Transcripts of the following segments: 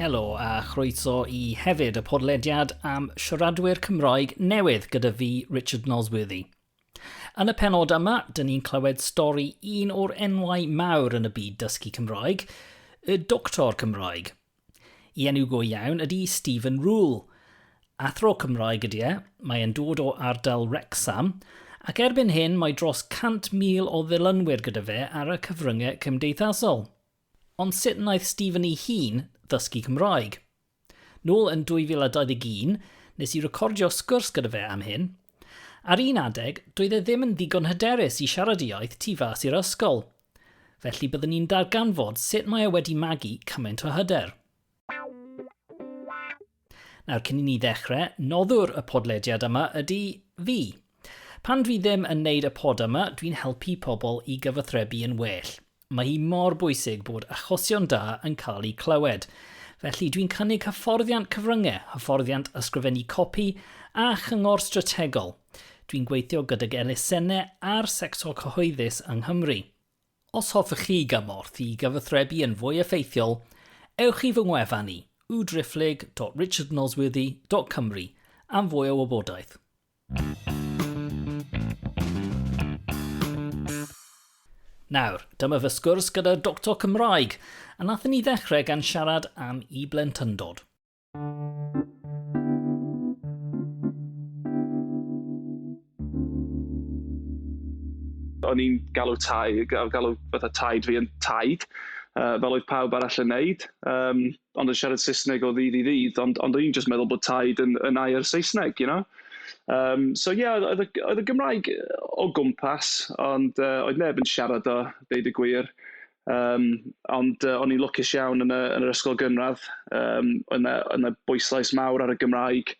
Helo a chroeso i hefyd y podlediad am siaradwyr Cymraeg newydd gyda fi, Richard Nosworthy. Yn y penod yma, dyn ni'n clywed stori un o'r enwau mawr yn y byd dysgu Cymraeg, y doctor Cymraeg. I enw go iawn ydy Stephen Rule. Athro Cymraeg ydy e, mae e'n dod o ardal Wrexham, ac erbyn hyn mae dros 100,000 o ddilynwyr gyda fe ar y cyfryngau cymdeithasol. Ond sut wnaeth Stephen ei hun ddysgu Cymraeg? Nôl yn 2021, nes i recordio sgwrs gyda fe am hyn. Ar un adeg, doedd e ddim yn ddigon hyderus i siarad y iaith tu fas i'r ysgol. Felly byddwn i'n darganfod sut mae e wedi magu cymaint o hyder. Nawr, cyn i ni ddechrau, noddwr y podlediad yma ydy fi. Pan dwi ddim yn neud y pod yma, dwi'n helpu pobl i gyfathrebu yn well. Mae hi mor bwysig bod achosion da yn cael eu clywed. Felly dwi'n cynnig hyfforddiant cyfryngau, hyfforddiant ysgrifennu copi a chyngor strategol. Dwi'n gweithio gydag elusennau a'r sector cyhoeddus yng Nghymru. Os hoffech chi gymorth i gyfathrebu yn fwy effeithiol, ewch i fy ngwefan i, www.richardnosworthy.cymru, am fwy o wybodaeth. Nawr, dyma fy sgwrs gyda Doctor Cymraeg, a nathon ni ddechrau gan siarad am 'i blentyndod'. O'n i'n galw tai- ga- galw fatha taid fi yn taid, yy, fel oedd pawb arall yn wneud, yym, ond yn siarad Saesneg o ddydd i ddydd, ond ond o'n i'n jyst meddwl bod taid yn yn air Saesneg, you know? Yym, so ie, oedd oedd y oedd y Gymraeg o gwmpas, ond yy oedd neb yn siarad o, deud y gwir. Yym, ond yy o'n i'n lwcus iawn yn y yn yr ysgol gynradd, yym oedd 'na oedd 'na bwyslais mawr ar y Gymraeg,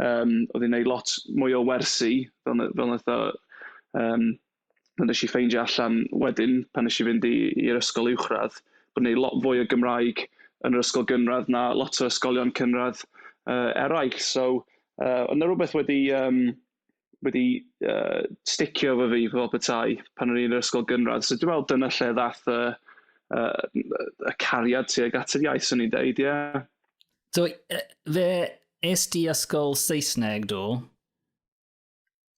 yym oedd hi'n wneud lot mwy o wersi fel n- fel wnaeth o yym... fel wnes i ffeindio allan wedyn pan wnes i fynd i i'r ysgol uwchradd, bod ni'n wneud lot fwy o Gymraeg yn yr ysgol gynradd na lot o ysgolion cynradd yy eraill. So yy oedd 'na rywbeth wedi yym... wedi uh, sticio fo fi fel petai pan o'n i'n yr ysgol gynradd. So dwi'n meddwl dyna lle ddath y, uh, y cariad tuag at yr iaith, swn i'n deud, ie. Yeah. So, uh, fe es di ysgol Saesneg, do?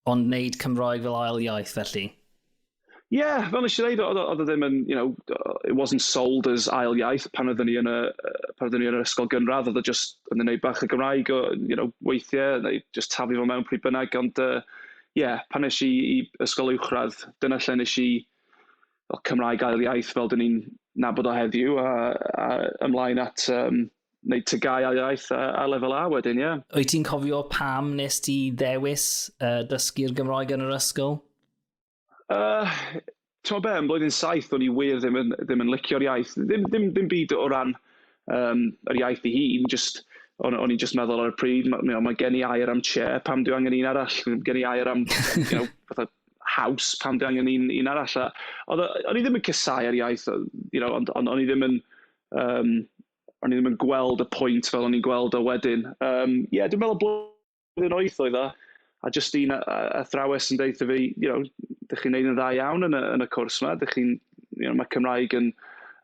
Ond wneud Cymraeg fel ail iaith, felly? Ie, fel wnes i ddeud, oedd o oedd o ddim yn, you know, yy it wasn't sold as ail iaith pan oedden ni yn y yy pan oedden ni yn yr ysgol gynradd. Oedd o jyst yn wneud bach o Gymraeg o, you know, weithiau, neu jyst taflu fo mewn pryd bynnag. Ond yy, ie, pan es i i ysgol uwchradd, dyna lle wnes i, wel, Cymraeg ail iaith, fel 'dyn ni'n nabod o heddiw, a a ymlaen at yym wneud TGAU ail iaith a a Lefel A wedyn, ie. Wyt ti'n cofio pam wnest ti ddewis yy dysgu'r Gymraeg yn yr ysgol? Yy, tibod be, yn Blwyddyn Saith o'n i wir ddim yn ddim yn licio'r iaith. Ddim ddim ddim byd o ran, yym, yr iaith ei hun, jyst o'n o'n i'n jyst meddwl ar y pryd, ma' you know ma' gen i air am 'chair', pam dwi angen un arall? M- gen i air am you know fatha 'house', pam dwi angen un un arall? A oedd o... o'n i ddim yn casáu'r iaith, yy you know, ond ond o'n i ddim yn, yym, o'n i ddim yn gweld y pwynt fel o'n i'n gweld o wedyn. Yym, ie, dwi'n meddwl bo'... Blwyddyn wyth oedd o, a jyst un athrawes yn deutha fi, you know, dych chi'n wneud yn dda iawn yn y yn y cwrs 'ma, dych chi'n... you know, mae Cymraeg yn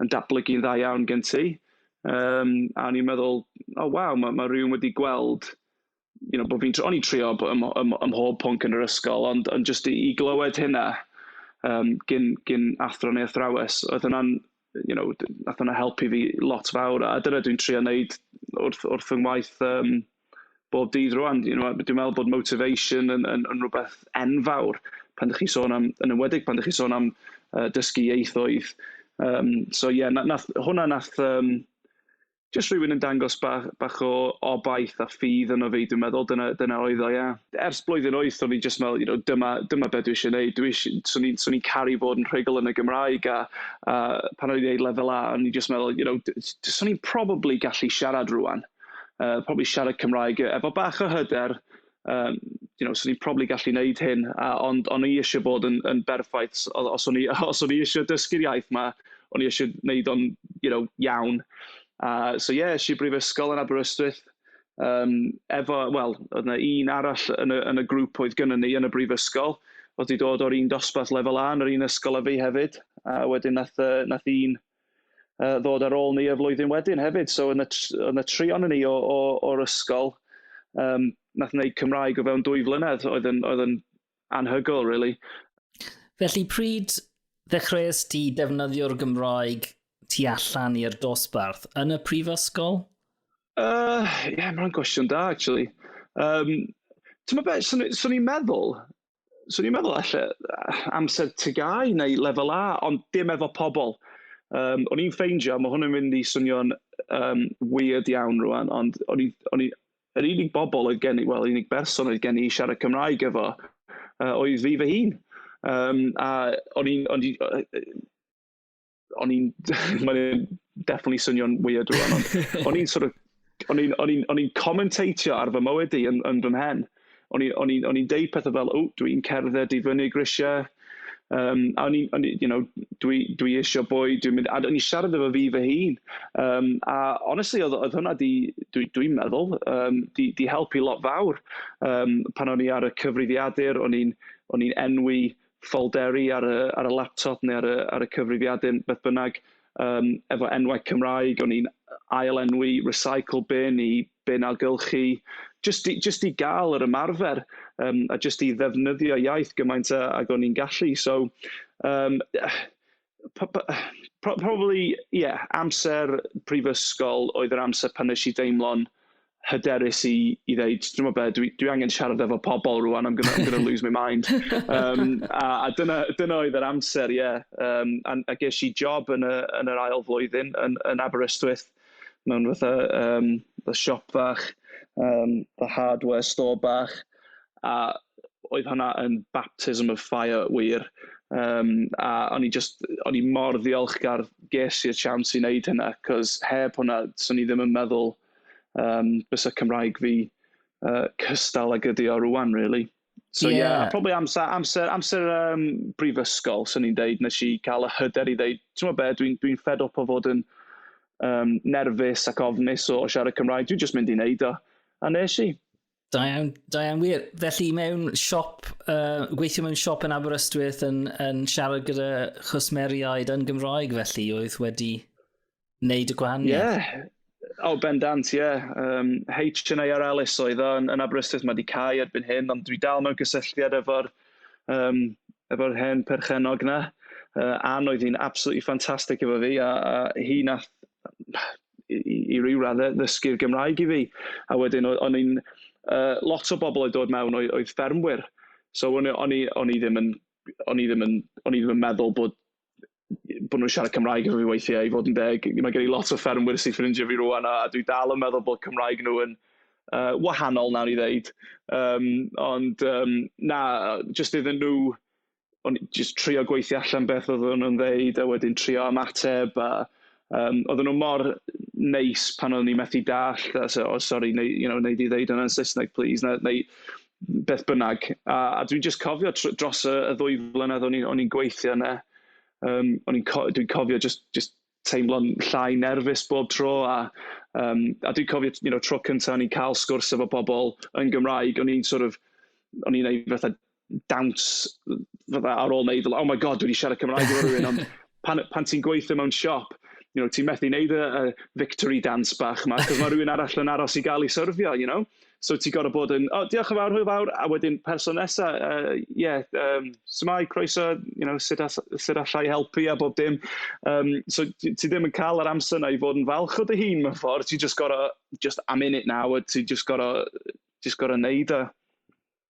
yn datblygu'n dda iawn gen ti. Yym, a o'n i'n meddwl, o waw, ma' ma' rywun wedi gweld, you know, bo' fi'n tr-... o'n i'n trio b- ym ym ym mhob pwnc yn yr ysgol, ond ond jyst i i glywed hynna yym gin gin athro neu athrawes, oedd hwnna'n you know, wnaeth hwnna helpu fi lot fawr, a dyna dwi'n trio wneud wrth wrth fy ngwaith yym bob dydd rŵan. You know a dwi'n meddwl bod motivation yn yn yn rywbeth enfawr pan dach chi'n sôn am... yn enwedig pan dach chi'n sôn am yy dysgu ieithoedd. Yym so ie na- wnaeth... hwnna wnaeth yym... jyst rhywun yn dangos bach bach o obaith a ffydd yno fi, dwi'n meddwl, dyna dyna oedd o, ie. Ers blwyddyn wyth, o'n i jyst meddwl, you know, dyma dyma be dwi eisiau wneud, dwi isi-... 'swn i'n 'swn i'n caru bod yn rhugl yn y Gymraeg, a a pan o'n i'n wneud Lefel A, o'n i jyst meddwl, you know, d- d- 'swn i'n probably gallu siarad rŵan, yy probably siarad Cymraeg efo bach o hyder, yym you know 'swn i'n probably gallu wneud hyn, a ond o'n i isio bod yn yn berffaith. O- os o'n i os o'n i isio dysgu'r iaith 'ma, o'n i isio wneud o'n you know iawn. A so ie, es i i brifysgol yn Aberystwyth, yym, efo, wel, oedd 'na un arall yn y yn y grŵp oedd gynnon ni yn y brifysgol, oedd 'di dod o'r un dosbarth lefel A yn yr un ysgol â fi hefyd, a wedyn wnaeth yy wnaeth un... uh, ddod ar ôl ni y flwyddyn wedyn hefyd. So yn y, yn y tri ond ni o, o, o'r ysgol, um, nath wneud Cymraeg o fewn dwy flynedd oedd yn, oedd yn anhygoel, really. Felly pryd ddechreuais ti defnyddio'r Gymraeg tu allan i'r dosbarth yn y prifysgol? Uh, yeah, mae'n gwestiwn da, actually. Um, Ti'n meddwl beth, swn i'n meddwl, 'swn i'n meddwl ella amser TGAU neu Lefel A, ond dim efo pobl. Yym, o'n i'n ffeindio, ma' hwn yn mynd i swnio'n, yym, weird iawn rŵan, ond o'n i o'n i... yr unig bobl oedd gen i, wel, yr unig berson oedd gen i i siarad Cymraeg efo, yy, oedd fi fy hun. Yym, a o'n i'n o'n i yy yy... o'n i'n, mae'n definitely swnio'n weird rwan, ond o'n i'n sort of, o'n i'n, o'n i'n, o'n i'n commentatio ar fy mywyd i yn, yn fy mhen. O'n i'n, o'n i'n, o'n i'n deud pethau fel, o, dwi'n cerdded i fyny grisiau, um, a o'n i'n, you know, dwi, dwi eisiau bwy, dwi'n mynd, a o'n i'n siarad efo fi fy hun. Um, a honestly, oedd, oedd hwnna di, dwi'n dwi meddwl, um, di, di helpu lot fawr. Um, pan o'n i ar y cyfrifiadur, o'n i'n, o'n i'n enwi ffolderi ar y, ar y laptop neu ar y, ar y cyfrifiadur, beth bynnag, um, efo enwau Cymraeg, o'n i'n ail-enwi recycle bin i bin ailgylchu, jyst i, jyst i gael yr ymarfer, um, a jyst i ddefnyddio iaith gymaint ag o'n i'n gallu. So, um, p- p- pro- probably, ie, yeah, amser prifysgol oedd yr amser pan wnes i deimlo'n hyderus i, i ddeud, dwi'n meddwl beth, dwi, dwi angen siarad efo pobl rwan, I'm gonna, I'm gonna lose my mind. Um, a, a dyna, dyna oedd yr amser, ie. Yeah. Um, a, a ges i job yn, y, yn yr ail flwyddyn yn, yn Aberystwyth, mewn fatha um, siop fach, um, the hardware store bach. a oedd hwnna yn baptism of fire wir, yym, a o'n i jyst... o'n i mor ddiolchgar ges i'r siawns i wneud hynna, 'cos heb hwnna, 'swn i ddim yn meddwl, yym, byse Cymraeg fi yy cystal ag ydi o rŵan, rili. So ie... Ie. ...a probably amser amser amser yym brifysgol, 'swn i'n deud, wnes i cael y hyder i ddeud, timod be, dwi'n dwi'n fed up o fod yn yym nerfus ac ofnus o siarad Cymraeg, dwi jyst mynd i wneud o, a wnes i. Da iawn, da iawn wir. Felly mewn siop, uh, gweithio mewn siop yn Aberystwyth yn, yn siarad gyda chwsmeriaid yn Gymraeg felly oedd wedi wneud y gwahaniaeth? Ie, yeah. o oh, bendant, ie. Yeah. Um, HNAR Alice oedd yn, yn Aberystwyth, mae wedi cael erbyn hyn, ond dwi dal mewn gysylltiad efo'r um, efo hen perchenog na. Uh, Ann oedd hi'n absolutely ffantastig efo fi, a, a hi nath i, i, i ryw raddau ddysgu'r Gymraeg i fi. A wedyn o'n i'n... Uh, lot o bobl oedd dod mewn oedd, oedd ffermwyr. So o'n, o'n, i, o'n i ddim yn... O'n i ddim yn, o'n i ddim yn meddwl bod bod nhw'n siarad Cymraeg efo fi weithiau, i fod yn deg. Mae gen i lot o ffermwyr sy'n ffrindio fi rwan, a, a dwi dal yn meddwl bod Cymraeg nhw yn uh, wahanol, nawn ni ddeud. Um, ond, um, na, jyst iddyn nhw o'n i jyst trio gweithio allan beth oedden nhw'n ddeud, a wedyn trio ymateb, a yym, oedden nhw mor neis pan o'n i'n methu dallt, a so, o sori, wnei you know wnei di ddeud hwnna yn Saesneg plis, neu neu beth bynnag. A a dwi'n jyst cofio tr- dros y y ddwy flynedd o'n i'n o'n i'n gweithio yna, yym, o'n i'n co- dwi'n cofio jyst jyst... teimlo'n llai nerfus bob tro, a yym, a dwi'n cofio, you know, tro cynta o'n i'n cael sgwrs efo pobl yn Gymraeg, o'n i'n sort of, o'n i'n wneud fatha dawns fatha ar ôl wneud, oh my God, dwi 'di siarad Cymraeg efo rywun! Ond pan pan ti'n gweithio mewn siop, you know, ti'n methu wneud y y victory dance bach 'ma, achos ma' rywun arall yn aros i gael ei syrfio, you know? So ti'n gorfod bod yn, "O, diolch yn fawr, hwyl fawr", a wedyn person nesa', yy, "Ie, yym, su'mai, croeso, you know, sut all- sut alla i helpu?" a bob dim. Yym, so ti ti ddim yn cael yr amser 'na i fod yn falch o dy hun mewn ffordd, ti jyst gorfod, "Just I'm in it now", a ti jyst gorfod jyst gorfod wneud o.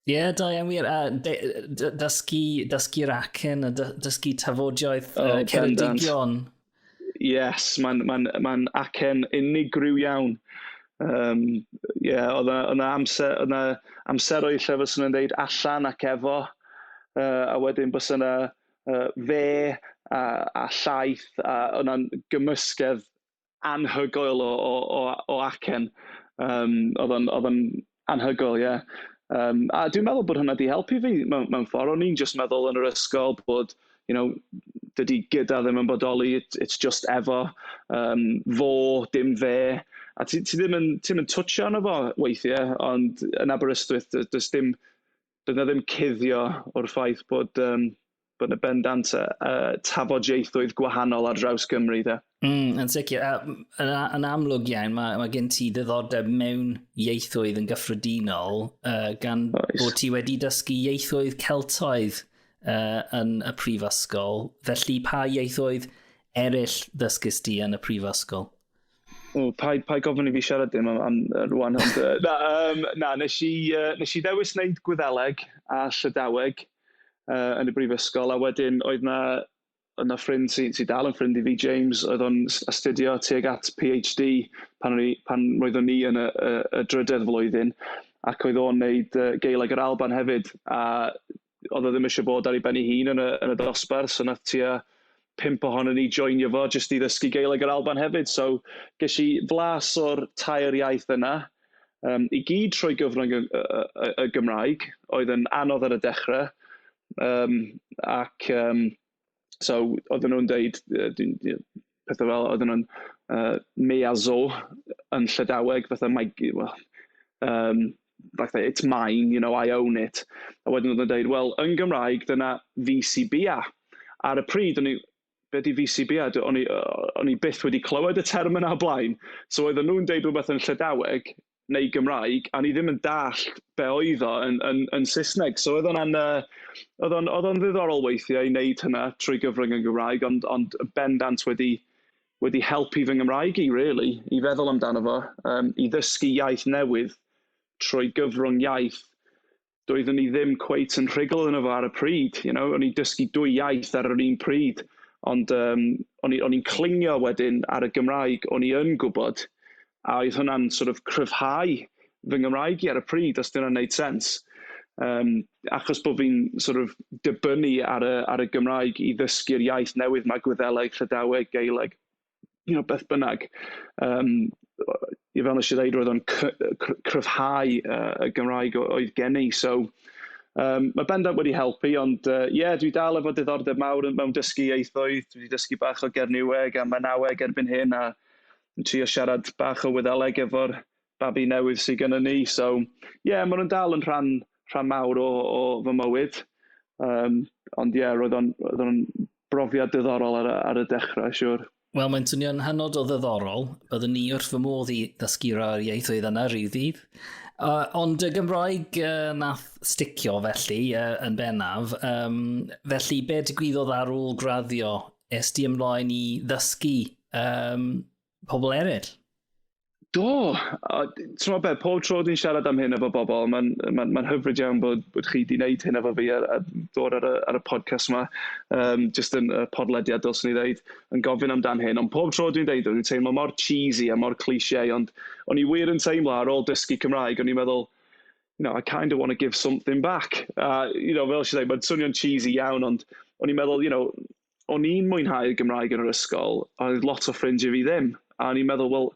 Ie, yeah, da iawn wir. A dysgu, dysgu racen, a dysgu tafodioeth oh, uh, Ceredigion. Yes, mae'n ma ma acen unigryw iawn. Um, yeah, oedd yna amser, oedd yna amseroedd lle fyswn yn dweud allan ac efo, uh, a wedyn bys yna uh, fe a, a llaeth, a yna'n gymysgedd anhygoel o o o o acen. Yym, oedd o'n oedd o'n anhygoel, ie. Yym, a dwi'n meddwl bod hwnna 'di helpu fi mewn mewn ffordd. O'n i'n jyst meddwl yn yr ysgol bod, you know, dydy 'gyda' ddim yn bodoli, it it's just 'efo'. Yym, 'fo', dim 'fe'. A ti ti ddim yn ti ddim yn twtsio arno fo weithiau, ond yn Aberystwyth, does dim... doedd 'na ddim cuddio o'r ffaith bod um, bod yna bendant uh, tafodieithoedd gwahanol ar draws Cymru de. Mm, yn sicr. Yn, yn amlwg iawn, mae, mae gen ti ddiddordeb mewn ieithoedd yn gyffredinol, uh, gan Oes. bod ti wedi dysgu ieithoedd Celtoedd uh, yn y prifysgol. Felly, pa ieithoedd eraill ddysgys ti yn y prifysgol? O, paid, paid gofyn i fi siarad dim am, am rwan. Ond, uh, na, um, na nes, i, uh, nes i ddewis wneud gwyddeleg a llydaweg uh, yn y brifysgol, a wedyn oedd na, oedd na ffrind sy'n sy dal yn ffrind i fi, James, oedd o'n astudio tuag at PhD pan, i, pan roeddwn ni yn y, y, y drydedd flwyddyn, ac oedd o'n wneud uh, geileg yr Alban hefyd, a oedd o ddim eisiau bod ar ei ben ei hun yn y yn y dosbarth, so wnaeth tua pump ohonon ni joinio fo jyst i ddysgu Gaeleg yr Alban hefyd. So ges i flas o'r tair iaith yna, um, i gyd trwy gyfrwng y, y, y, y Gymraeg, oedd yn anodd ar y dechrau, um, ac um, So, oedden nhw'n deud, pethau fel, oedden nhw'n yy miazo yn Llydaweg, fatha mae g- wel yym fatha 'it's mine, you know, I own it'. A wedyn oedden nhw'n deud, wel, yn Gymraeg, dyna VCBA. Ar y pryd, o'n i... be 'di VCBA? O'n i yy o'n i byth wedi clywed y term yna o'r blaen. So oedden nhw'n deud rywbeth yn Llydaweg... neu Gymraeg, a o'n i ddim yn dallt be oedd o yn yn yn Saesneg. So oedd hwnna'n, yy, oedd o'n oedd o'n ddiddorol weithiau i wneud hynna trwy gyfrwng yn Gymraeg, ond ond bendant wedi wedi helpu fy Nghymraeg i rili, i feddwl amdano fo, yym, i ddysgu iaith newydd trwy gyfrwng iaith. doeddwn i ddim cweit yn rhugl yno fo ar y pryd, you know. O'n i'n dysgu dwy iaith ar yr un pryd, ond yym o'n i o'n i'n clingio wedyn ar y Gymraeg o'n i yn gwybod, a oedd hwnna'n sort of cryfhau fy Nghymraeg i ar y pryd, os 'di hynna'n wneud sens. Yym, achos bod fi'n sort of dibynnu ar y ar y Gymraeg i ddysgu'r iaith newydd 'ma, Gwyddeleg, Llydaweg, Gaeleg. you know, beth bynnag. Yym, yy, fel wnes i ddeud, roedd o'n cry- cry- cryfhau yy, y Gymraeg o- oedd gen i. So, yym, ma' bendant wedi helpu, ond yy, ie, dwi dal efo diddordeb mawr yn mewn dysgu ieithoedd. Dwi 'di dysgu bach o Gernyweg a Mynaweg erbyn hyn, a yn trio siarad bach o Wyddeleg efo'r babi newydd sy gennyn ni. So, ie, maen nhw'n dal yn rhan rhan mawr o o fy mywyd. Yym, ond ie, roedd o'n roedd o'n brofiad diddorol ar, ar y dechrau, siwr. Wel, mae'n swnio'n hanod o ddiddorol. Byddwn ni wrth fy modd i ddysgu rhai'r ieithoedd yna rhyw ddydd. Uh, ond y Gymraeg uh, nath sticio felly uh, yn bennaf. Um, felly, be digwyddodd ar ôl graddio? Es di ymlaen i ddysgu um, pobl eraill? Do, a ti'n gwybod be, pob tro dwi'n siarad am hyn efo bobl, mae'n ma ma hyfryd iawn bod, bod chi wedi gwneud hyn efo fi a, a dod ar y, ar y podcast yma, um, jyst yn y podlediad, dylswn i ddeud, yn gofyn amdan hyn. Ond pob tro dwi'n dweud, dwi'n teimlo mor cheesy a mor cliché, ond o'n i wir yn teimlo ar ôl dysgu Cymraeg, o'n i'n meddwl, you know, I kind of want to give something back. A, you know, fel sy'n dweud, mae'n swnio'n cheesy iawn, ond o'n i'n meddwl, you know, o'n i'n mwynhau Gymraeg yn yr ysgol, oedd lot o ffrindiau fi ddim. A o'n i'n meddwl, wel,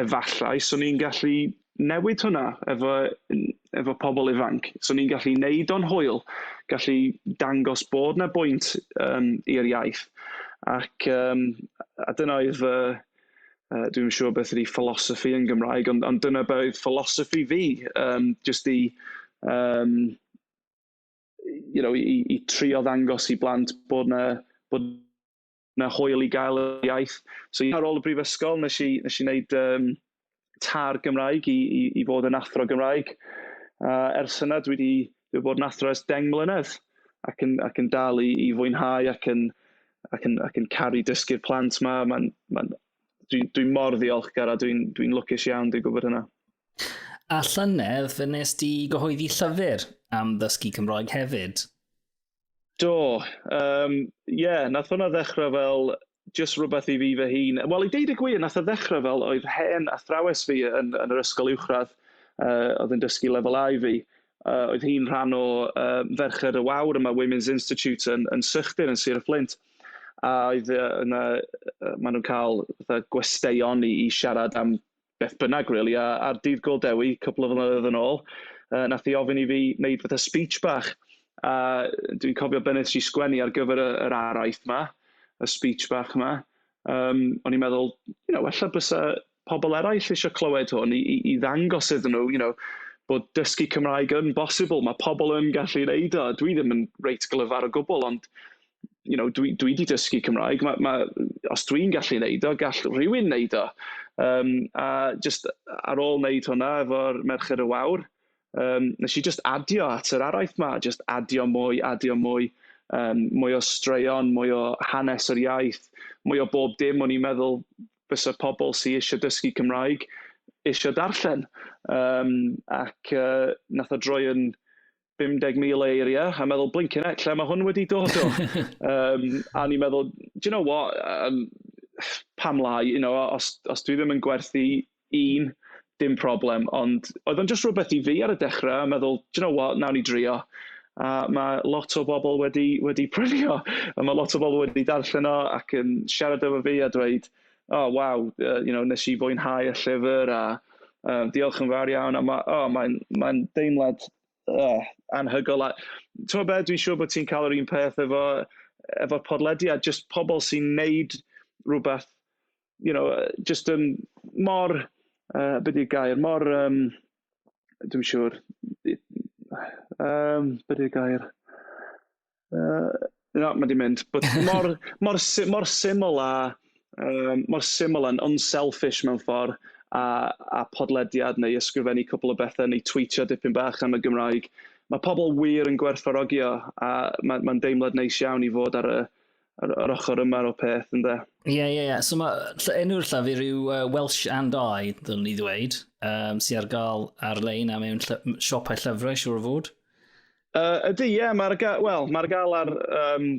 efallai 'swn i'n gallu newid hwnna efo n- efo pobl ifanc. 'Swn i'n gallu wneud o'n hwyl, gallu dangos bod 'na bwynt, yym, i'r iaith, ac yym a dyna oedd fy... yy, dwi'm yn siŵr beth ydy philosophy yn Gymraeg, ond ond dyna be oedd philosophy fi, yym, jyst i, yym... you know, i, i trio ddangos i blant bod na, bod na hwyl i gael y iaith. So yeah, ar ôl y brifysgol, nes i, nes i wneud um, tar Gymraeg i, i, i fod yn athro Gymraeg. Uh, ers yna, dwi wedi dwi bod yn athro ers deng mlynedd ac yn, ac yn dal i, i fwynhau ac yn, ac yn, ac yn caru dysgu'r plant yma. Mae'n ma, ma dwi'n dwi mor ddiolchgar a dwi'n dwi, dwi lwcus iawn, dwi'n gwybod hynna. A llynedd fe nes di gyhoeddi llyfr am ddysgu Cymroeg hefyd. Do, um, yeah, nath hwnna ddechrau fel just rhywbeth i fi fy hun. Wel, i deud y gwir, nath o ddechrau fel oedd hen athrawes fi yn, yn yr ysgol uwchradd, uh, oedd yn dysgu lefel A i fi. Uh, oedd hi'n rhan o uh, Ferched y Wawr yma, Women's Institute yn, yn Sychdir, yn Sir y Fflint. A oedd uh, yna, uh, maen nhw'n cael fatha, gwesteion i, i siarad am beth bynnag really, a a'r dydd gol Dewi cwpl o flynyddoedd yn ôl, yy nath hi ofyn i fi wneud fatha speech bach, a dwi'n cofio be' nes i sgwennu ar gyfer y yr araith 'ma, y speech bach 'ma, yym o'n i'n meddwl, you know, ella bysa pobl eraill eisiau clywed hwn i i i ddangos iddyn nhw, you know, bod dysgu Cymraeg yn bosibl, mae pobl yn gallu wneud o, dwi ddim yn reit glyfar o gwbl, ond you know, dwi, dwi di dysgu Cymraeg, ma, ma, os dwi'n gallu wneud o, gall rhywun wneud o. Um, a just ar ôl wneud hwnna efo'r Merched y Wawr, um, nes i just adio at yr araith ma, just adio mwy, adio mwy, um, mwy o straeon, mwy o hanes yr iaith, mwy o bob dim o'n i'n meddwl fysa pobl sy'n eisiau dysgu Cymraeg eisiau darllen. Um, ac uh, nath o droi yn 50,000 o eiriau, a meddwl, blincin heck, lle mae hwn wedi dod o? um, a ni'n meddwl, do you know what, um, pam lai, you know, os, os dwi ddim yn gwerthu un, dim problem, ond oedd o'n just rhywbeth i fi ar y dechrau, a meddwl, do you know what, nawn ni drio. A mae lot o bobl wedi, wedi prynu o, a mae lot o bobl wedi darllen o ac yn siarad efo fi a dweud, o oh, waw, uh, you know, nes i fwynhau y llyfr a uh, diolch yn fawr iawn. A ma, oh, mae'n ma deimlad uh, anhygol. A, ti'n meddwl dwi'n siŵr bod ti'n cael yr un peth efo, efo podlediad, just pobl sy'n neud rhywbeth, you know, just um, mor, uh, beth i'r gair, mor, um, dwi'n siŵr, um, beth i'r gair, Yy. Na, mae 'di mynd. But mor mor sy- mor syml a yym mor syml a'n unselfish mewn ffordd a a podlediad neu ysgrifennu cwpl o bethe neu twîtio dipyn bach am y Gymraeg. Mae pobl wir yn gwerthfawrogi o, a mae'n mae'n deimlad neis iawn i fod ar y yr yr ochr yma o'r peth ynde. Ie ie ie. So mae ll- enw'r llafur yw uh, Welsh and I, ddylwn ni ddweud, um, sy'n ar gael ar-lein a mewn lly- siopau llyfrau, siwr o fod. Yy, ydy, ie, mae'r ga-... wel, mae'r galar, yym,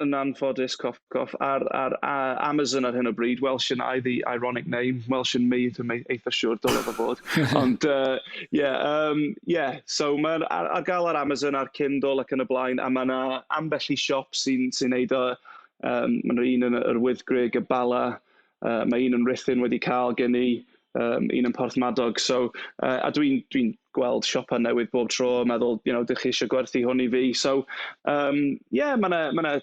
yn anffodus, cough cough, ar ar a- Amazon ar hyn o bryd. Welsh yn air ddi, ironic name, Welsh yn mei, dwi'm ei- eitha siŵr, dyle fo fod. Ond yy, ie, yym, ie. So ma'r ar ar gael ar Amazon, ar Kindle ac yn y blaen, a ma' 'na ambell i siop sy'n sy'n wneud o. Yym, ma' 'na un yn yr Wyddgrug, y Bala. Yy mae un yn Rhuthun wedi cael gen i, yym un yn Porthmadog. So yy a dwi'n dwi'n gweld siopau newydd bob tro a meddwl, you know, 'dych chi isio gwerthu hwn i fi? So yym ie, ma' 'na ma' 'na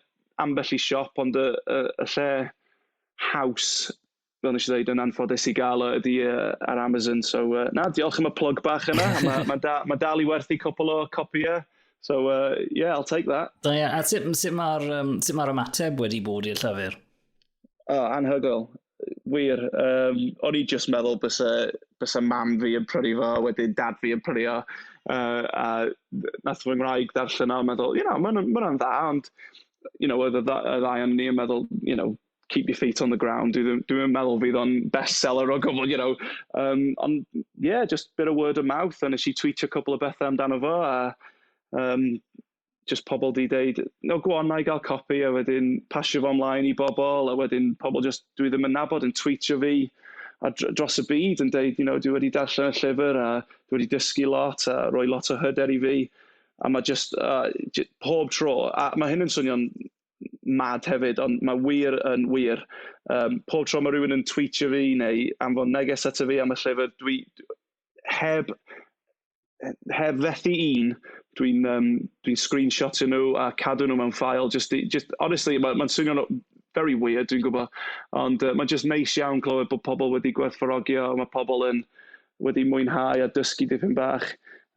ambell i siop, ond y y y lle haws, fel wnes i ddeud, yn anffodus i gael o ydy yy ar Amazon. So yy na, diolch am y plwg bach yna. Ma' ma' da- ma' dal i werthu cwpwl o copïau. So yy ie, I'll take that. Da iawn. A sut sut mae'r yym sut mae'r ymateb wedi bod i'r llyfr? O, anhygoel, wir. Yym, o'n i jyst yn meddwl byse byse mam fi yn prynu fo, a wedyn dad fi yn prynu o. Yy, a wnaeth fy ngwraig ddarllen o a meddwl, "you know, ma' hwn yn ma' hwnna'n dda". Ond, you know, oedd y dda- y ddau ohonon ni yn meddwl, you know, "keep your feet on the ground". Dwi ddim dwi'm yn meddwl fydd o'n bestseller o gwbl, you know. Yym, ond ie, jyst bit of word of mouth, a wnes i twîtio cwpl o bethe amdano fo, a yym... jyst pobl 'di deud, "no go on, wna i gael copi", a wedyn pasio fo ymlaen i bobl, a wedyn pobl jyst dwi ddim yn nabod yn twîtio fi a dr- dros y byd yn deud, you know, "dwi wedi darllen y llyfr a dwi wedi dysgu lot a rhoi lot o hyder i fi", a ma' jyst yy j- pob tro, a ma' hyn yn swnio'n mad hefyd, ond ma' wir yn wir, yym pob tro ma' rywun yn twîtio fi neu anfon neges ato fi am y llyfr, dwi heb... heb fethu un, dwi'n yym dwi'n screenshotio nhw a cadw nhw mewn ffeil jyst i jyst... Honestly, ma' ma'n swnio'n w- very weird, dwi'n gwbod. Ond, yy, ma' jyst neis iawn clywed bod pobl wedi gwerthfawrogi o, ma' pobl yn wedi mwynhau a dysgu dipyn bach,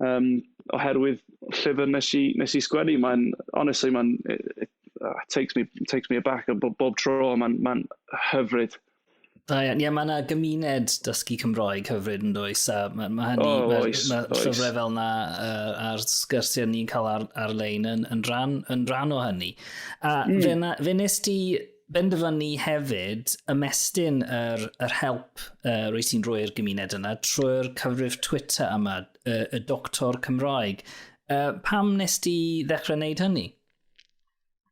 yym, oherwydd llyfr wnes i wnes i sgwennu. Mae'n, honestly, mae'n yy yy takes me takes me aback a b- bob tro mae'n mae'n hyfryd. Da iawn. Ie, mae yna gymuned dysgu Cymroeg hyfryd yn dweud, A mae ma hynny, oh, mae oes, ma oes. llyfrau fel yna uh, a'r sgyrsiau ni'n cael ar, ar-lein yn, yn, rhan, yn rhan o hynny. A mm. fe, na, fe nes ti benderfynu hefyd ymestyn yr, yr help uh, rwy ti'n rhoi'r gymuned yna trwy'r cyfrif Twitter yma, y, y Doctor Cymroeg. Uh, pam nes ti ddechrau wneud hynny?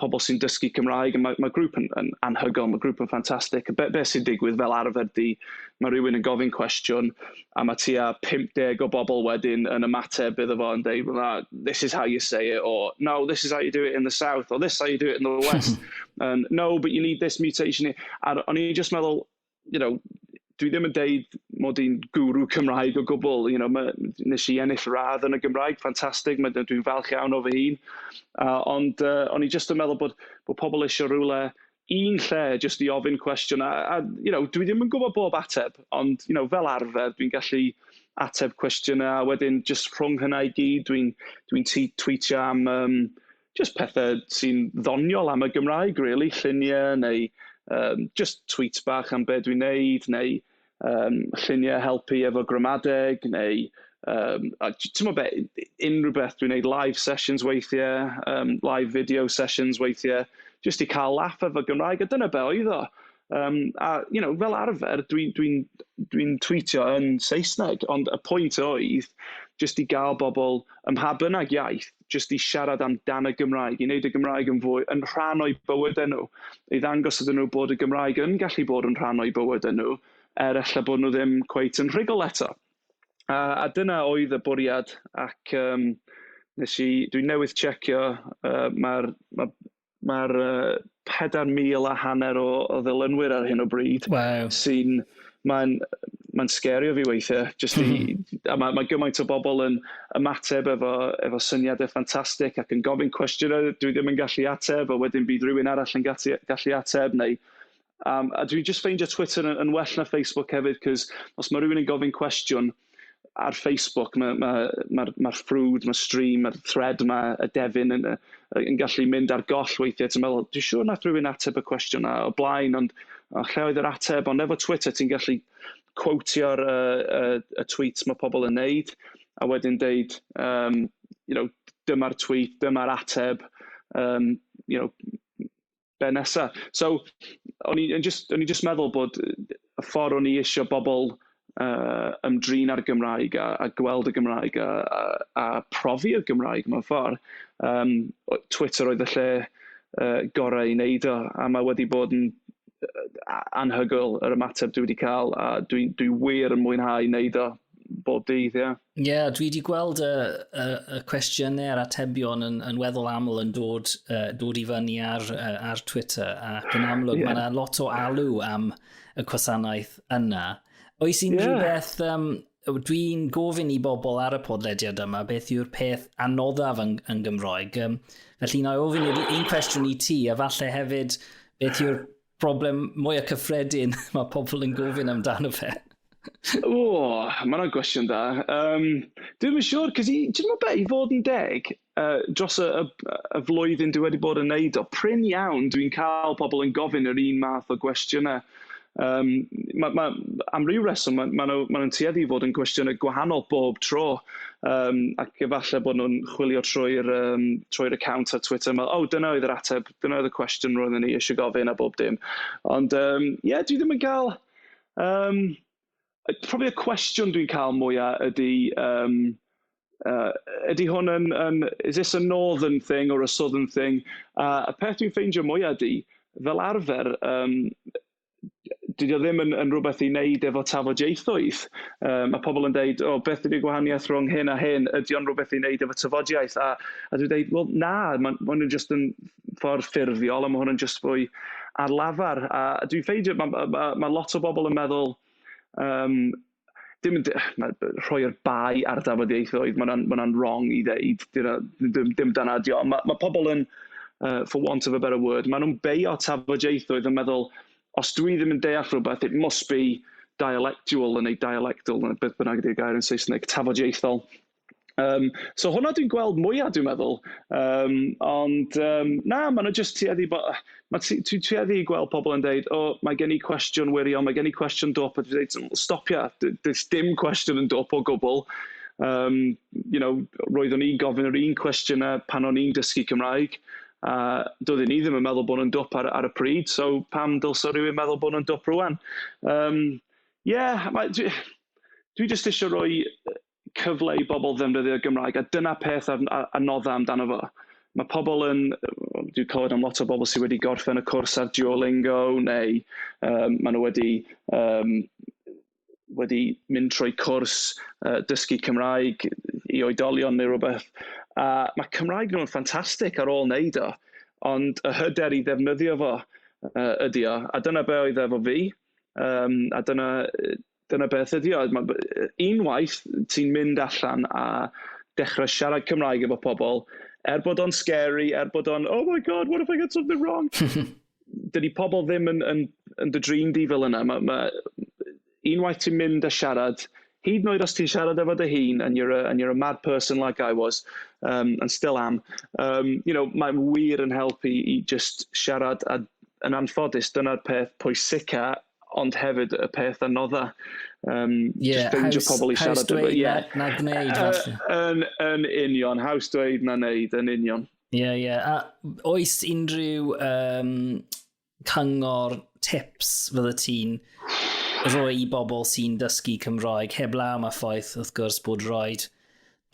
pobl sy'n dysgu Cymraeg, a mae, mae grŵp yn, yn anhygoel, mae grŵp yn ffantastig. Be, be sy'n digwydd fel arfer di, mae rhywun yn gofyn cwestiwn, a mae tua 50 o bobl wedyn yn ymateb iddo fo yn dweud, well, this is how you say it, or no, this is how you do it in the south, or this is how you do it in the west, and no, but you need this mutation. A'r, o'n i'n just meddwl, you know, dwi ddim yn deud mod i'n gwrw Cymraeg o gwbl, you know, ma'... wnes i ennill radd yn y Gymraeg, ffantastig, ma' d- dwi'n falch iawn o fy hun, a ond yy o'n i jyst yn meddwl bod bod pobl isio rywle, un lle jyst i ofyn cwestiwn, a a you know, dwi ddim yn gwybod bob ateb, ond you know fel arfer dwi'n gallu ateb cwestiynau, a wedyn jyst rhwng hynna i gyd dwi'n dwi'n tŷ- twîtio am yym... jyst pethau sy'n ddoniol am y Gymraeg rili, lluniau neu yym jyst tweets bach am be dwi'n wneud, neu yym lluniau helpu efo gramadeg, neu yym a j- timod be, unrhyw beth dwi'n wneud, live sessions weithiau, yym live video sessions weithiau, jyst i cael laff efo Gymraeg, a dyna be oedd o. Yym a you know fel arfer dwi'n dwi'n dwi'n twîtio yn Saesneg, ond y pwynt oedd jyst i gael bobl ym mha bynnag iaith... jyst i siarad amdan y Gymraeg, i wneud y Gymraeg yn fwy yn rhan o'u bywydau nhw, i ddangos iddyn nhw bod y Gymraeg yn gallu bod yn rhan o'u bywydau nhw, er ella bod nhw ddim cweit yn rhugl eto. A, a dyna oedd y bwriad, ac um, nes i, dwi'n newydd checio, uh, mae'r, mae mae'r uh, 4,000 a hanner o, o ddilynwyr ar hyn o bryd. Wow. Sy'n, mae'n mae'n sgerio fi weithiau. Just i, mhm. a mae, mae gymaint o bobl yn ymateb efo, efo syniadau ffantastig ac yn gofyn cwestiynau dwi ddim yn gallu ateb, a wedyn bydd rhywun arall yn gallu, gallu ateb, neu Um, a dwi'n just ffeindio Twitter yn, yn well na Facebook hefyd, cos os mae rhywun yn gofyn cwestiwn, ar Facebook, mae'r ma, ma, ma, ma ffrwd, mae'r stream, mae'r thread yma, y defyn yn, yn gallu mynd ar goll weithiau. Ti'n meddwl, dwi'n siŵr nath rhywun ateb y cwestiwn yna o blaen, ond o, lle oedd yr ateb? Ond efo Twitter, ti'n gallu quotio'r y, y, y tweets mae pobl yn neud, a wedyn deud, um, you know, dyma'r tweet, dyma'r ateb, um, you know, be nesa? So, o'n i'n jyst, o'n i'n jyst meddwl bod y ffordd o'n i isio bobl yy ymdrin â'r Gymraeg a a gweld y Gymraeg a a a profi'r Gymraeg mewn ffordd, yym, Twitter oedd y lle yy gorau i wneud o, a mae wedi bod yn yy anhygoel yr ymateb dwi wedi cael, a dwi dwi wir yn mwynhau wneud o. bob dydd, ie. Ie, yeah, dwi wedi gweld y, y, y cwestiynau a'r atebion yn, yn weddol aml yn dod, uh, dod i fyny ar, uh, ar Twitter, ac yn amlwg yeah. mae yna lot o alw am y gwasanaeth yna. Oes unrhyw yeah. beth, um, dwi'n gofyn i bobl ar y podlediad yma beth yw'r peth anoddaf yn, yn Gymroeg. Um, felly, na i ofyn i'r un cwestiwn i ti, a falle hefyd beth yw'r Problem mwyaf cyffredin mae pobl yn gofyn amdano fe? O, mae hwnna'n gwestiwn da. Um, Dwi'n yn siŵr, cos i, ti'n meddwl be, i fod yn deg, uh, dros y, y, y flwyddyn dwi wedi bod yn neud o, prin iawn dwi'n cael pobl yn gofyn yr un math o gwestiynau. Um, ma, ma, am ryw reswm, maen ma, nhw, ma nhw'n tueddu i fod yn gwestiynau gwahanol bob tro, um, ac efallai bod nhw'n chwilio trwy'r um, trwy account ar Twitter, meddwl, oh, dyna oedd yr ateb Dyna oedd y cwestiwn roedden ni eisiau gofyn a bob dim. Ond um, yeah, dwi ddim yn cael... Um, probably y cwestiwn dwi'n cael mwyaf ydy... Um, uh, ydy hwn yn, yn... Is this a northern thing or a southern thing? A uh, y peth dwi'n ffeindio mwyaf ydy, fel arfer, um, dydy o ddim yn yn rywbeth i wneud efo tafodieithoedd. Yy ma' pobl yn deud, "O beth ydy'r gwahaniaeth rhwng hyn a hyn? Ydy o'n rywbeth i wneud efo tafodiaith?" A a dwi'n deud, "Wel na, ma'n ma' hwn yn jyst yn ffordd ffurfiol a ma' hwn yn jyst fwy ar lafar." A dwi'n ffeindio ma' ma' ma' ma' lot o bobl yn meddwl yym... dim yn de- na- rhoi'r bai ar dafodieithoedd, ma' hwnna'n ma' hwnna'n wrong i ddeud, dyna dim dim dyna ydy o. Ma' ma' pobl yn yy for want of a better word, maen nhw'n beio tafodieithoedd yn meddwl, os dwi ddim yn deall rhywbeth, it must be dialectual neu dialectal, neu beth bynnag ydy'r gair yn Saesneg, tafodieithol. Yym, so hwnna dwi'n gweld mwya, dwi'n meddwl. Yym, ond, yym, na, maen nhw jyst tueddu i bo-... ma' tue- ti'n tueddu i gweld pobl yn deud, "O, mae gen i cwestiwn wirion, mae gen i cwestiwn dwp", a dwi dweud, "Wel, stopia, d- does dim cwestiwn yn dwp o gwbl". Yym, you know, roeddwn i'n gofyn yr un cwestiynau pan o'n i'n dysgu Cymraeg, a doedden ni ddim yn meddwl bod nhw'n dwp ar ar y pryd, so pam dylse rywun meddwl bod nhw'n dwp rŵan? Yym, ie, mae... dwi dwi jyst isio rhoi yy... cyfle i bobl ddefnyddio'r Gymraeg, a dyna peth a a a nodda amdano fo. Ma' pobl yn yy dwi clywed am lot o bobl sy wedi gorffen y cwrs ar Duolingo neu yym ma' nhw wedi yym wedi mynd trwy cwrs yy dysgu Cymraeg i oedolion neu rywbeth, a ma' Cymraeg nhw'n ffantastig ar ôl wneud o, ond y hyder i ddefnyddio fo yy ydy o, a dyna be oedd e efo fi, yym a dyna yy Dyna beth ydy o. Ma' b- yy unwaith ti'n mynd allan a dechra siarad Cymraeg efo pobl, er bod o'n scary, er bod o'n oh my God, what if I get something wrong? dydy pobl ddim yn yn yn dy drin di fel yna. Ma' ma' unwaith ti'n mynd a siarad, hyd yn oed os ti'n siarad efo dy hun and you're a and you're a mad person like I was um and still am um you know mae'n wir yn helpu i jyst siarad a yn anffodus dyna'r peth pwysica ond hefyd y peth anodda, um, yeah, just ffeindio haws, pobl i siarad efo. Ie, yeah. na, na gwneud, falle. Yn, yn union, haws dweud na wneud, yn union. Ie, yeah, ie. Yeah. A oes unrhyw um, cyngor tips fydde ti'n rhoi i bobl sy'n dysgu Cymroeg, heb law mae ffaith, wrth gwrs, bod rhaid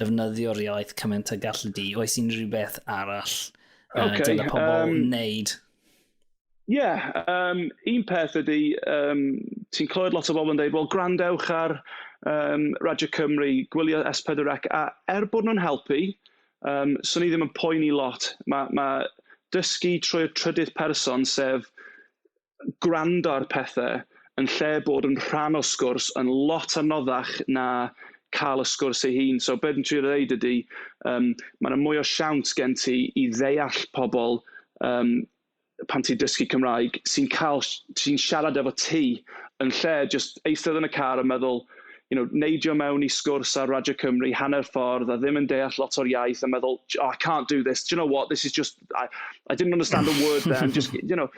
defnyddio'r iaith cymaint a gallu di? Oes unrhyw beth arall uh, okay, dyle pobl um, wneud? Ie, yeah, um, un peth ydy, um, ti'n clywed lot o bobl yn dweud, wel, gwrandewch ar um, Radio Cymru, gwylio S4 ac, a er bod nhw'n helpu, um, swn i ddim yn poeni lot. Mae ma dysgu trwy'r trydydd person, sef gwrando ar pethau yn lle bod yn rhan o sgwrs yn lot anoddach na cael y sgwrs ei hun. So be dwi'n trio ddeud ydy, um, mae yna mwy o siawns gen ti i ddeall pobl um, pan ti'n dysgu Cymraeg sy'n cael sy'n siarad efo ti yn lle just eistedd yn y car a meddwl you know, neidio mewn i sgwrs ar Radio Cymru hanner ffordd a ddim yn deall lot o'r iaith a meddwl, oh, I can't do this, do you know what, this is just, I, I didn't understand a word there, and just, you know,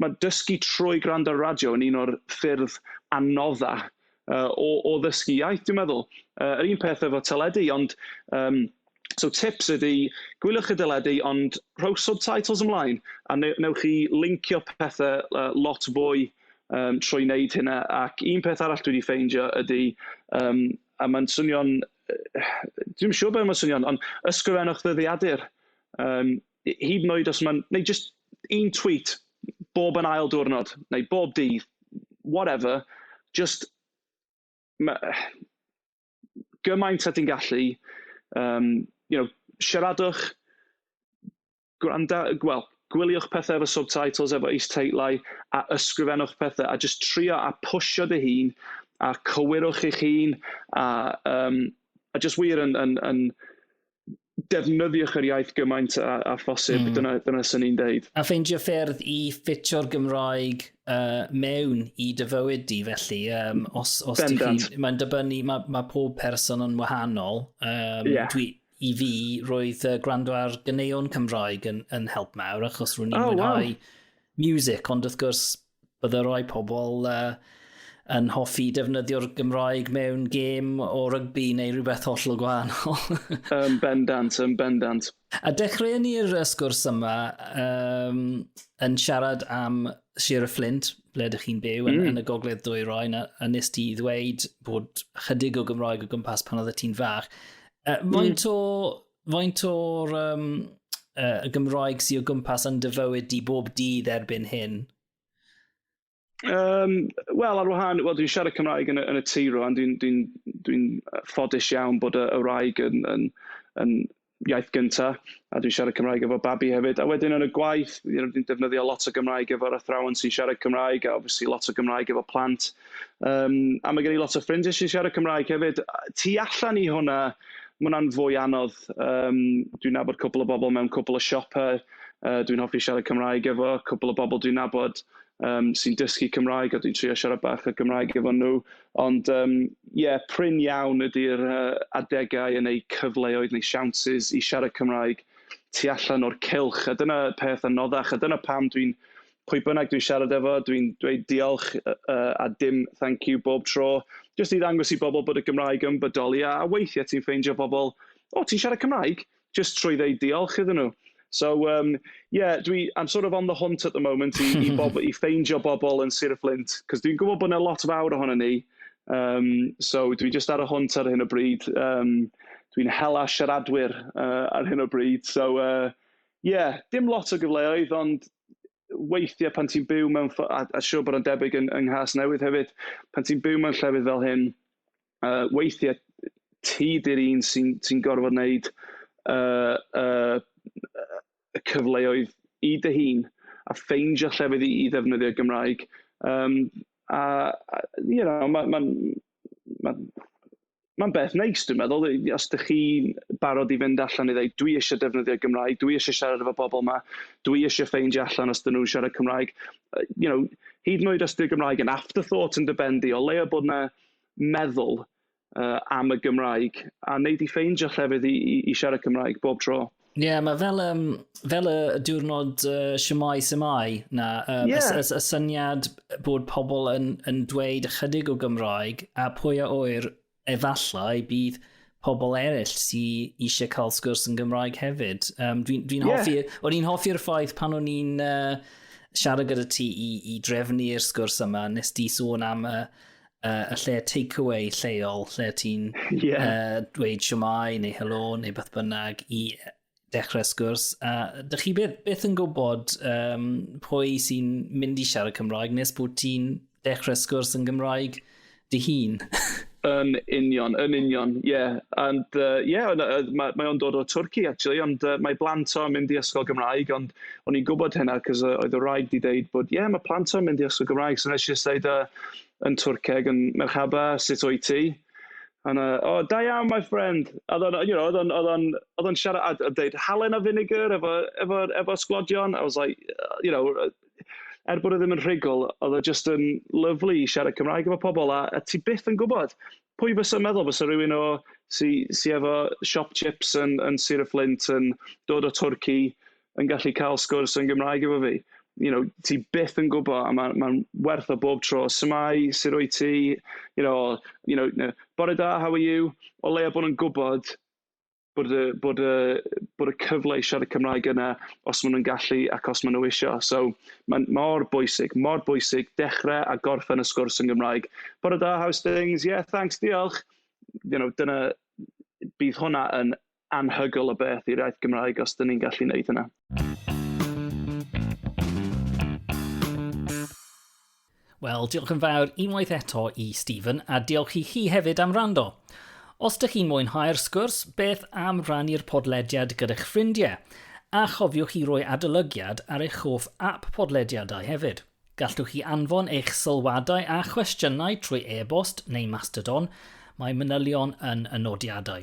mae dysgu trwy gwrando ar radio yn un o'r ffyrdd anodda uh, o, o ddysgu iaith, dwi'n meddwl. Uh, yr un peth efo teledu, ond um, So tips ydy, gwyliwch y deledu, ond rhowch subtitles ymlaen, a ne- wnewch chi lincio pethe, yy, lot fwy, yym, trwy wneud hynna. Ac un peth arall dwi 'di ffeindio ydy, yym, a mae'n swnio'n, yy, dwi'm yn siŵr be mae'n swnio'n, ond ysgrifennwch ddyddiadur, yym, h- hyd yn oed os mae'n... neu jyst un tweet bob yn ail diwrnod, neu bob dydd, whatever, jyst ma'... gymaint â ti'n gallu, yym, you know, siaradwch, gwranda-, wel, gwyliwch pethe efo subtitles, efo is-teitlau, a ysgrifennwch pethe, a jyst trio a pwsio dy hun, a cywirwch eich hun, a yym, a jyst wir yn yn yn... defnyddiwch yr iaith gymaint a, a phosib. Mm. Dyna, dyna sy'n ni'n deud. A ffeindio ffyrdd i ffitio'r Gymraeg uh, mewn i dy fywyd di, felly. Um, os, os ti chi, mae'n dibynnu, mae, ma pob person yn wahanol. Um, yeah. dwi, I fi, roedd uh, gwrando ar gyneuon Cymraeg yn, yn help mawr, achos rwy'n i'n oh, mwynhau wow. music, ond wrth gwrs, Bydde rhai pobl uh, yn hoffi defnyddio'r Gymraeg mewn gêm o rygbi neu rhywbeth hollol gwahanol. yn bendant, yn bendant. A dechreu ni'r sgwrs yma um, yn siarad am Sir y Fflint, ble ydych chi'n byw, yn, mm. yn y gogledd dwy roi, a, a nes ti ddweud bod chydig o Gymraeg o gwmpas pan oedd y ti'n fach. Uh, faint mm. o faint o'r um, uh, y Gymraeg sy'n o gwmpas yn dyfywyd di bob dydd erbyn hyn? Um, Wel, ar wahan, well, dwi'n siarad Cymraeg yn y, yn y tŷ rwan. Dwi'n dwi dwi ffodus iawn bod y, y wraig yn, yn, yn iaith gyntaf, a dwi'n siarad Cymraeg efo babi hefyd. A wedyn yn y gwaith, dwi'n defnyddio lot o Gymraeg efo'r athrawon sy'n siarad Cymraeg, a obviously lot o Gymraeg efo plant. Yym, a ma' gen i lot o ffrindiau sy'n siarad Cymraeg hefyd. Tu allan i hwnna, ma' hwnna'n fwy anodd. Yym, dwi'n nabod cwpl o bobl mewn cwpl o siopau, yy, dwi'n hoffi siarad Cymraeg efo cwpl o bobl dwi'n nabod, yym, sy'n dysgu Cymraeg, a dwi'n trio siarad bach o Gymraeg efo nhw. Ond, yym, ie, prin iawn ydy'r, yy, adegau yn eu cyfleoedd neu siawnsys i siarad Cymraeg tu allan o'r cylch. A dyna peth anoddach, a dyna pam dwi'n pwy bynnag dwi'n siarad efo, dwi'n dweud diolch a dim 'thank you' bob tro, jyst i ddangos i bobl bod y Gymraeg yn bodoli, a weithiau ti'n ffeindio pobl, "O, ti'n siarad Cymraeg?", jyst trwy ddeud diolch iddyn nhw. So yym ie, dwi... I'm sort of on the hunt at the moment i i bob- i ffeindio bobl yn Sir y Fflint, cos dwi'n gwybod bod 'na lot fawr ohonon ni, yym, so dwi jyst ar y hwnt ar hyn o bryd. Yym, dwi'n hela siaradwyr ar hyn o bryd, so yy ie, dim lot o gyfleoedd, ond... weithiau pan ti'n byw mewn ff-... a a siŵr bod o'n debyg yn yng Nghasnewydd hefyd, pan ti'n byw mewn llefydd fel hyn, yy, weithiau ti 'di'r un sy'n sy'n gorfod wneud y y y cyfleoedd i dy hun, a ffeindio llefydd i i ddefnyddio'r Gymraeg. Yym, a a you know, ma' ma'n... ma'n ma'n beth neis dwi'n meddwl. I- os dach chi'n barod i fynd allan i ddweud 'dwi isie defnyddio Gymraeg, dwi isie siarad efo pobl 'ma, dwi isie ffeindio allan os 'dyn nhw'n siarad Cymraeg', you know, hyd yn oed os 'di'r Gymraeg yn afterthought yn dy ben di, o leia' bod 'na meddwl yy am y Gymraeg, a wnei di ffeindio llefydd i i i siarad Cymraeg bob tro. Ie, yeah, mae fel, um, fel y diwrnod uh, siamai siamai na, um, yeah. y, y, y syniad bod pobl yn, yn dweud ychydig o Gymraeg a pwy a oer efallai bydd pobl eraill sy'n eisiau cael sgwrs yn Gymraeg hefyd. Um, Dwi'n dwi, yeah. hoffi, o'n i'n hoffi'r ffaith pan o'n i'n uh, siarad gyda ti i, i drefnu'r sgwrs yma, nes di sôn am y, uh, y lle takeaway lleol, lle ti'n yeah. uh, dweud siomai neu helo neu beth bynnag i dechrau sgwrs. A uh, dych chi beth, beth yn gwybod um, pwy sy'n mynd i siarad Cymraeg nes bod ti'n dechrau sgwrs yn Gymraeg dy hun? Yn union, yn union, ie. Yeah. And, uh, yeah, uh, mae, mae o'n dod o Twrci, actually, ond uh, mae blant o'n mynd i ysgol Gymraeg, ond o'n i'n gwybod hynna, cos uh, oedd y rhaid i ddeud bod, ie, yeah, mae plant o'n mynd i ysgol Gymraeg, so nes i ddeud, uh, yn Twrceg yn Merchaba, sut wyt ti? A oedd 'na, "O, da iawn my friend." A oedd o'n, you know, oedd o'n oedd o'n oedd o'n siarad a d- a deud halen a finegr efo efo efo sglodion. I was like, you know, er bod e ddim yn rhugl, oedd o jyst yn lyfli i siarad Cymraeg efo pobl, a a ti byth yn gwybod pwy fysa'n meddwl fysa rywun o... sy sy efo siop tsips yn yn Sir y Fflint yn dod o Twrci. yn gallu cael sgwrs yn Gymraeg efo fi. You know, ti byth yn gwybod, a mae'n ma werth o bob tro. Su'mai, sut wyt ti? You know, you know, you know bore da, how are you? O leiaf bod nhw'n gwybod bod y bod y bod y cyfle i siarad Cymraeg yna, os maen nhw'n gallu ac os maen nhw isio. So mae'n mor bwysig, mor bwysig dechrau a gorffen y sgwrs yn Gymraeg. Bore da, how's things? Yeah, thanks, diolch. You know, dyna... bydd hwnna yn anhygoel o beth i'r iaith Gymraeg os 'dyn ni'n gallu wneud hynna. Wel, diolch yn fawr unwaith eto i Stephen a diolch i chi hefyd am rando. Os ydych chi'n mwynhau'r sgwrs, beth am rannu'r podlediad gyda'ch ffrindiau? A chofiwch i roi adolygiad ar eich hoff app podlediadau hefyd. Gallwch chi anfon eich sylwadau a chwestiynau trwy e-bost neu Mastodon, mae manylion yn y nodiadau.